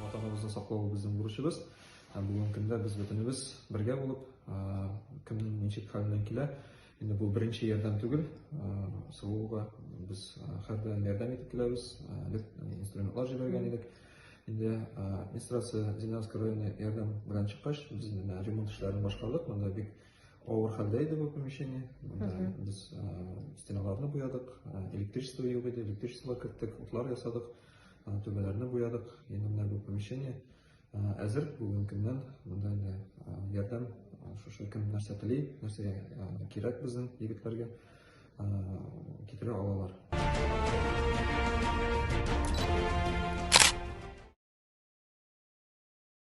Ватаныбызны саклау безнең бурычыбыз. Бүгенге көндә без бөтенебез бергә булып, кемнең ничек хәленнән килә, инде бу беренче ярдәм түгел, савуга без хәрдән ярдәм итеп киләбез, без инструментлар җибәргән идек. Инде администрация Зеленский районы ярдәм белән чыккач, без ремонт эшләрен башкардык. Монда бик авыр хәлдә иде бу помещение. Без стеналарны буядык, электричество юк иде, электричество керттек, утлар ясадык. Түбәләрне буядык, енді менә бу помещение әзер, бүген көннән монда инде ярдәм шушы кем нәрсә тели, нәрсә кирәк безнең егетләргә китерә алалар.